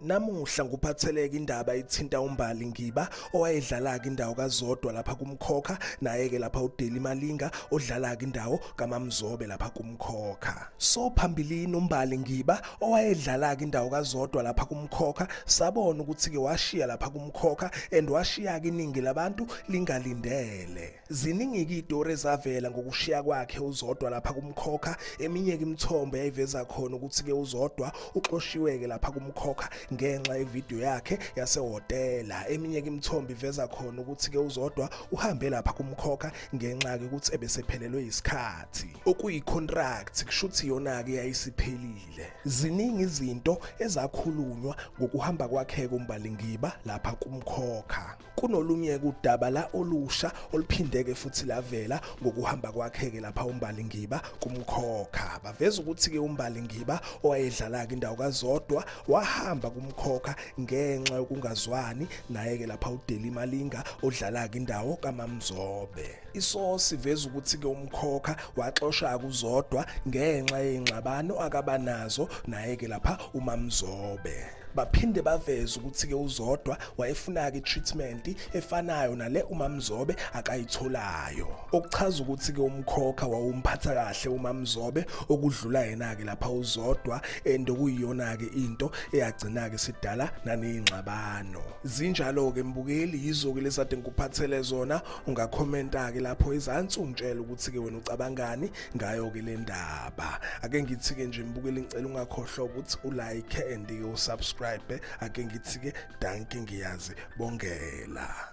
Namuhla nguphatheleke indaba ithinta uMbali Ngiba owayedlala-ke indawo kaZodwa lapha kuMkhokha naye-ke lapha uDeli Malinga odlala-ke indawo kaMamzobe lapha kuMkhokha. So phambilini uMbali Ngiba owayedlala-ke indawo kaZodwa lapha kuMkhokha sabona ukuthi-ke washiya lapha kuMkhokha and washiya-ke iningi labantu lingalindele. Ziningi-ke iy'tori ezavela ngokushiya kwakhe uZodwa lapha kumkhokha, eminye-ke imithombo yayiveza khona ukuthi-ke uZodwa uxoshiwe-ke lapha kumkhokha ngenxa yevidiyo yakhe yasehhotela. Eminye-ke imithombo iveza khona ukuthi-ke uZodwa uhambe lapha kumkhokha ngenxa-ke ukuthi ebesephelelwe yisikhathi. Okuyi-contract kusho ukuthi yona-ke yayisiphelile. Ziningi izinto ezakhulunywa ngokuhamba kwakhe-ke uMbalingiba lapha kumkhokha. kunolunye kudaba la olusha oluphindeke futhi lavela ngokuhamba kwakhe-ke lapha umbali ngiba kumkhokha baveza ukuthi-ke umbali ngiba owayedlala-ke indawo kazodwa wahamba kumkhokha ngenxa yokungazwani naye-ke lapha udeli malinga odlala-ke indawo kamamzobe isosi veza ukuthi-ke umkhokha waxosha kuzodwa ngenxa yey'ngxabano akaba nazo naye-ke lapha umamzobe baphinde baveze ukuthi-ke uzodwa wayefuna-ke i-treatment efanayo nale umamzobe akayitholayo okuchaza ukuthi-ke umkhokha wawumphatha kahle umamzobe okudlula yena-ke lapha uzodwa and okuyiyona-ke into eyagcina-ke sidala naneyingxabano zinjalo-ke mbukeli yizo-ke lezade ngikuphathele zona ungakhomenta-ke lapho ezansi ungitshela ukuthi-ke wena ucabangani ngayo ke le ndaba ake ngithi ke nje mbukeli ngicela ungakhohlwa ukuthi ulike and usubscribe ake ngithi ke danke ngiyazi bongela